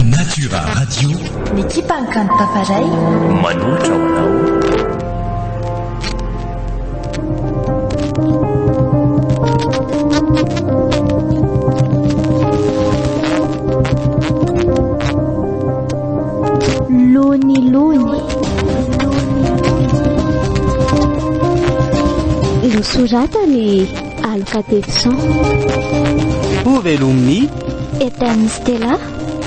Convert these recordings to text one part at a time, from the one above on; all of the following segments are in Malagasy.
Natura Radio. Ny ekipan'ny kanto Tafaray. Manolotra ho anao. Lony lony. Nosoratany Aloka Tedson. Ho velomin'i. Etern'i Stella,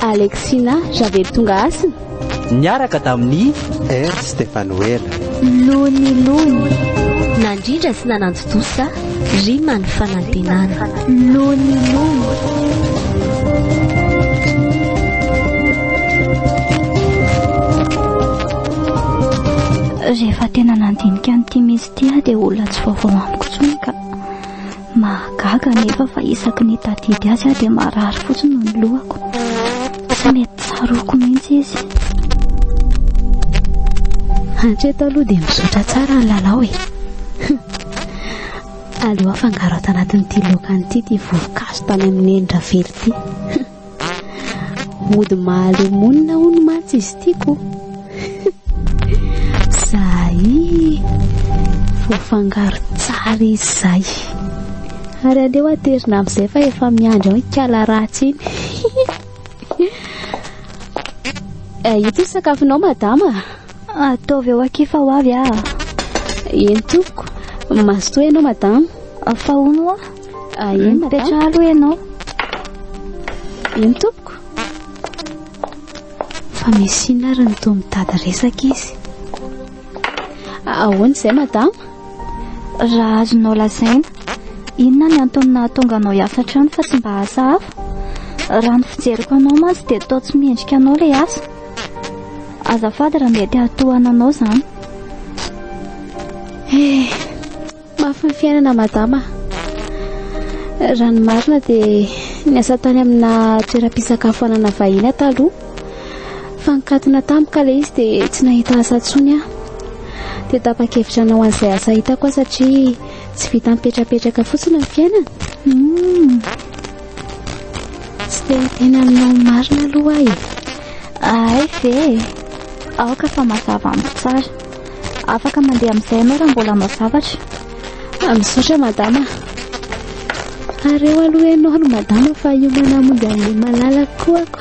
Alexina, Javely tonga hasina. Niaraka tamin'i. Ernst Stefanoela. Lony Lony. Nandrindra sy nanantontosa, rima ny fanantenana. Lony Lony. rehefa tena nandinika an'ity mihitsy Tia dia olona tsy vaovao amiko intsony ka. Mahagaga anefa fa isaky ny tadidy azy aho dia marary fotsiny ny lohako. Tsy mety tsaroako mihitsy izy. Hatreto aloha dia mizotra tsara ny lalao e. Aleo afangaro ato anatin'ity laoka an'ity ity voankazo tany amin'ny neny ravelo ity. Mody mahaleo monina hono mantsy izy tiako. Zahay voafangaro tsara izay. Ary aleo aterina amin'izay fa efa miandry ao ikala ratsy iny. Eh, ito sakafonao madama. Ataovy ao akia fa ho avy aho. Eny tompoko. Mazotoa ianao madama. Fa hono hoa. Ah, eny madama. Mipetraha aloha ianao. Eny tompoko. Fa misy inona ary ny toa mitady resaka izy. Ah, ahoana izay madama? Raha azonao lazaina, inona ny antony nahatonga anao hiasa hatrany fa tsy mba asa hafa? Raha ny fijeriko anao mantsy dia toa tsy mendrika anao ilay asa. Azafady raha mety hahatohana anao zany. Eh, mafy ny fiainana madama. Raha ny marina dia niasa tany amina toeram-pisakafoanana vahiny aho taloha. Fa nikatona tampoka ilay izy dia tsy nahita asa intsony aho. Dia tapa-kevitra hanao an'izay asa hitako aho satria tsy vita mipetrapetraka fotsiny ny fiainana. Hmm. Tsy dia miteny aminao marina aloha aho e. Ahay ve e. Aoka fa mazava amiko tsara. Afaka mandeha amin'izay ianao raha mbola hanao zavatra. Ah, misaotra madama. Areo aloha ianao no madama fa hiomana hamonjy an'ilay malalako koa ako.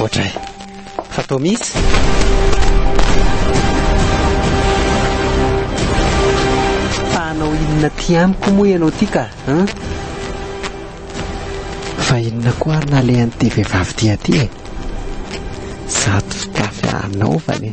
Ohatray fa toa misy. Fa hanao inona ty amiko moa ianao ty ka hein? Fa inona koa ary nalehan'ity vehivavy ty aty e? Zato fitafy anaovany e.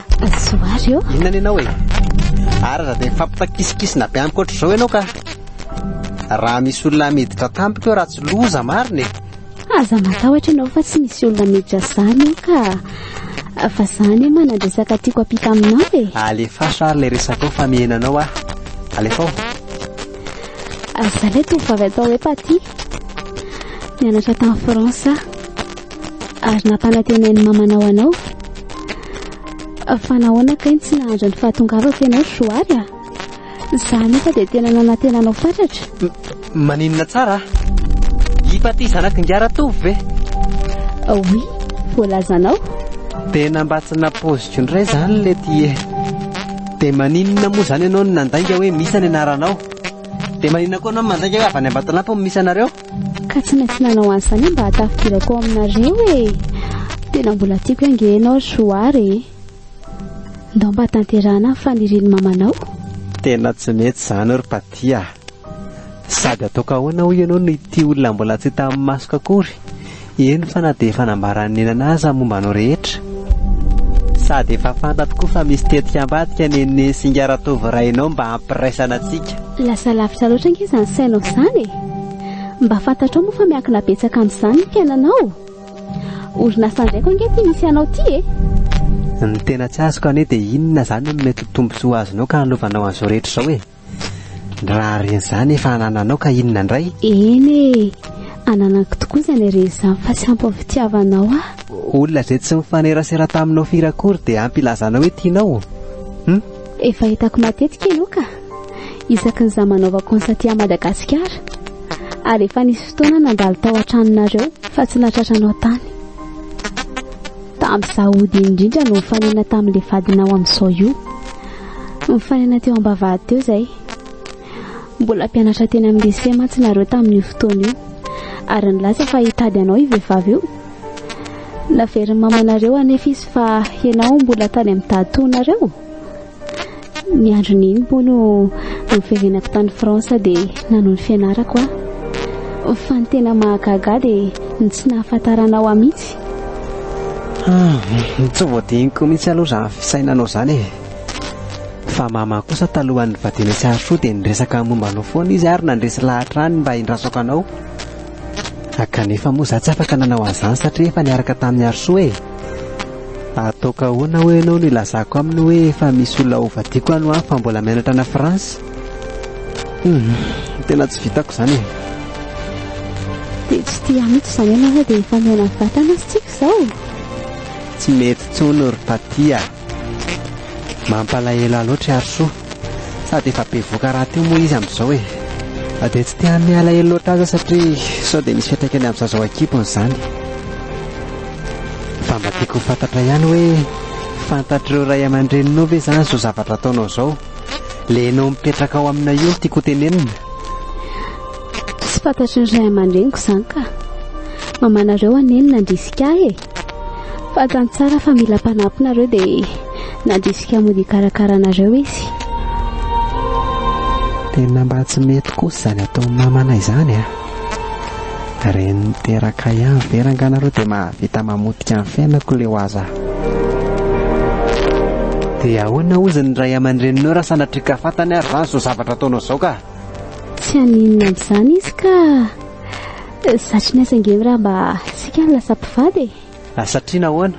Somary ô. Inona ny anao e? Ary aza dia mifampitakisikisina be amiko ohatr'izao ianao ka. Raha misy olona miditra tampoka eo raha tsy loza marina e. Aza matahotra ianao fa tsy misy olona miditra izany eo ka. Fa izany e manadresaka tiako ampita aminao e. Alefaso ary ilay resakao fa mihena anao aho. Alefao. Aza ilay tovovavy atao hoe Patty. Nianatra tany France aho. ary nampanatenain'ny mamanao anao fa nahoana kay tsy nahandra ny fahatongavako ianao joary a za nefa dia tena nanatenanao fatratra maninona tsara hipaty zanaky ngaratovy ve oui voalazanao dia namba tsy napoziko indray zany le tie dia maninona moa zany ianao ny nandainga hoe misy any anaranao dia maninona koa anao mandainga hoe avy any ambatolampy misy anareo Ka tsy maintsy nanao an'izany aho mba hatafidirako ao aminareo e. Tena mbola tiako ange ianao ry Johary e. Ndao mba tanterahana ny fanirian'i mamanao. Tena tsy mety izany ry Patty a. Sady ataoko ahoana hoy ianao no ity olona mbola tsy hita amin'ny masoko akory? Eny fa na dia efa nambaran'i nenana aza ny momba anao rehetra. Sady efa fantatro koa fa misy tetika ambadika nene sy ingahy Ratovo rainao mba hampiraisana antsika. Lasa lavitra loatra ange izany sainao izany e! Mba fantatrao moa fa miankina betsaka amin'izany ny fiainanao? Orinasa indray koa ange ity misy anao ity e! Ny tena tsy azoko anie dia inona izany no mety ho tombontsoa azonao ka anovanao an'izao rehetra izao e? Raha re izany efa anananao ka inona indray? Eny e, ananako tokoa izany re izany fa tsy ampy ny fitiavanao ahy. Olona izay tsy mifanerasera taminao firy akory dia ampy hilazanao hoe tianao? Hum? Efa hitako matetika ianao ka, isaky ny izaho manaova cons aty à Madagasikara. Ary efa nisy fotoana nandalo tao an-tranonareo fa tsy nahatratranao tany. Tamin'izaho hody indrindra no nifanena tamin'ilay vadinao amin'izao io. Nifanena teo am-bavahady teo izay. Mbola mpianatra teny amin'ny lycée mantsy nareo tamin'io fotoana io, ary nilaza fa hitady anao io vehivavy io. Naverin'ny mamanareo anefa izy fa ianao mbola tany amin'ny dahatoanareo. Ny androny iny moa no niverenako tany France dia nanao ny fianarako aho. Fa ny tena mahagaga dia ny tsy nahafantarana aho mihitsy. Ah, tsy voadiniko mihitsy aloha izany fisainanao izany e. Fa mama kosa talohan'ny nivadiana sy Harishoa dia niresaka momba anao foana izy ary nandresy lahatra any mba hindrasako anao. A, kanefa moa za tsy afaka nanao an'izany satria efa niaraka tamin'i Harosoa e! Ataoko ahoana hoy ianao no hilazako aminy hoe efa misy olona hovadiako any ho any fa mbola mianatra any France? Hum, tena tsy vitako izany e! Dia tsy tia mihitsy izany ianao dia efa mihaona vatana sy tsiky izao? Tsy mety intsony ry Taty a! Mampalahelo ahy loatra i Harisoa. Sady efa bevoka rahateo moa izy amin'izao e. Na dia tsy te hanome alahelo loatra aza satria sao dia misy fiantraikany amin'ny zaza ao an-kibony izany. Fa mba tiako ho fantatra ihany hoe fantatr'ireo ray aman-dreninao ve izany izao zavatra ataonao izao? Ilay ianao mipetraka ao aminay io no tiako hotenenina. Tsy fantatry ny ray aman-dreniko izany ka. Mamanareo anie no nandrisika ahy e. Fantany tsara fa mila mpanampy nareo dia nandrisika mody hikarakara anareo izy. Tena mba tsy mety kosa izany ataon'i mamanay izany a! Reny niteraka ihany ve rangah nareo dia mahavita mamotika ny fiainako leo aza! Dia ahoana hozy ny ray aman-dreninao raha sanatriaka fantany ary izany izao zavatra ataonao izao ka? Tsy haninona amin'izany izy ka! Satry ny asa ngem raha mba sika no lasa mpivady e! Ah satria nahoana?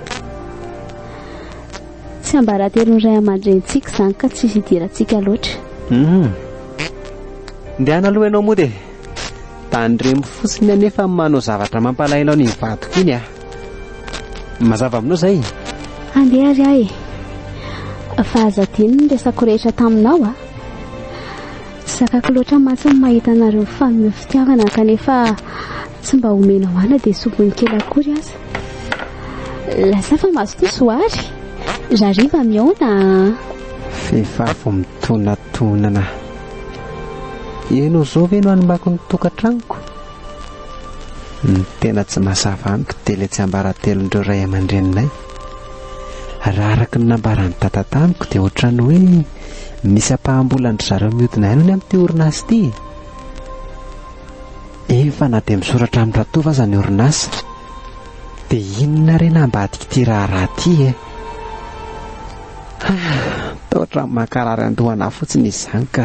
Tsy ambaratelon'ny ray aman-drenintsika izany ka tsy hidirantsika loatra. Hum. Ndehana aloha ianao mody e! Tandremo fotsiny anefa ny manao zavatra mampalahelo an'iny vadiko iny ah! Mazava aminao izay? Handeha ary aho e! Fa aza adino ny resako rehetra taminao ah! Zakako loatra mantsy ny mahita anareo mifanome fitiavana kanefa tsy mba omena hoana dia soviny kely akory aza. Lasa fa mazotoa Zoary. Rariva mihaona a! Vehivavy midonatonana. Ianao zao ve no hanimbako ny tokantranoko? Ny tena tsy mazava amiko dia ilay tsiambaratelon'ireo ray aman-dreninay. Raha araka ny nambaran'i Dada tamiko dia ohatran'ny hoe. Misy ampaham-bolan-dry zareo mihodina ihany anie amin'ity orinasa ity e. Efa na dia misoratra amin'ny ratovo aza ny orinasa. Dia inona re no ambadik'ity raharaha ity e? Toa ohatran'ny mankarary an-doha anà fotsiny izany ka.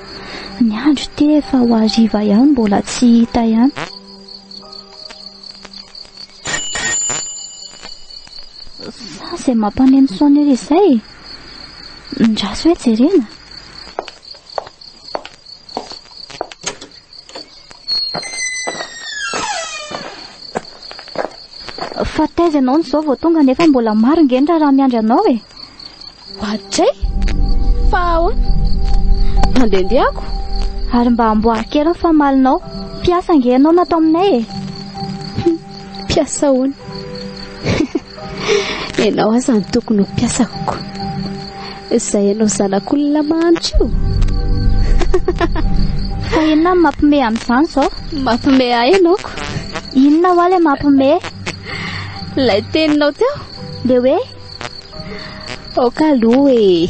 Ny andro te efa ho hariva ihany mbola tsy hita ihany. Sa izay mampaneno sonnerie izay? Ndraso hoe jerena. Fa taiza ianao ny zao vao tonga nefa mbola maro nge ny raharaha miandry anao e. Batray? Fa ahoana? Mandendeako? Ary mba amboary kely ny famalinao. Mpiasa nge ianao natao aminay e. Mpiasa ahoana? Ianao aza no tokony ho mpiasako. Izay ianao zanak'olona mahantra io. Fa inona no mampime amin'izany izao? Mampime ahy ianao ko. Inona hoa ilay mampime? Ilay teninao teo. Le hoe? Aoka aloha e.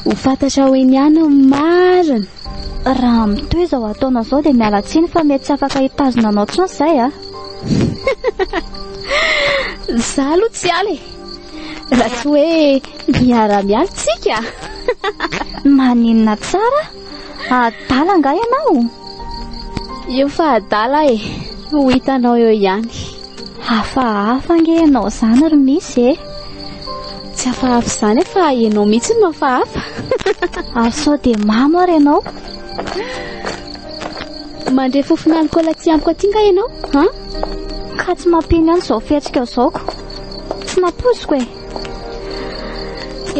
Ho fantatra ho eny ihany ny marina. Raha mitohy izao ataonao izao dia miala tsiny fa mety tsy afaka hitazona anao intsony izay a. Za aloha tsy ala e. Raha tsy hoe miara-miala tsika. Maninona tsara? Adala nga ianao? Io fa adala e. Ho hitanao eo ihany. Hafahafa ange ianao izany ry Misy e! Tsy hafahafa izany fa ianao mihitsy no hafahafa. Ary sao dia mamo ary ianao? Mandre fofona alikaola tsy amiko aty nga ianao ha? Ka tsy mampino ihany izao fihetsika zaoko. Tsy nampoziko e!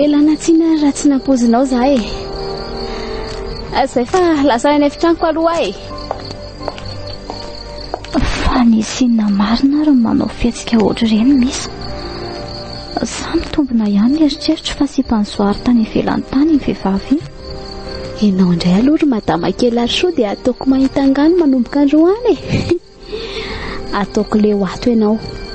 Ela natsina raha tsy nampozinao za e! Izay fa lasa any efitranoko aloha e! Fa ny sinina marina ary ny manao fihetsika ohatr'ireny misy. Sa mitombina ihany ny eritreritro fa sipan'i Zoary tany ivelany tany iny vehivavy iny? Ianao indray aloha ry madama kely ary sao dia ataoko mahita angaha ny manomboka androany e! Ataoko leo ato ianao.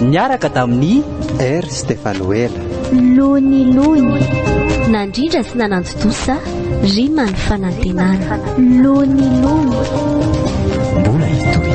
Niaraka tamin'i R. Stefanoela. Lony Lony, nandrindra sy nananto-dosa, rima ny fanantenana. Lony Lony. Mbola hitohy.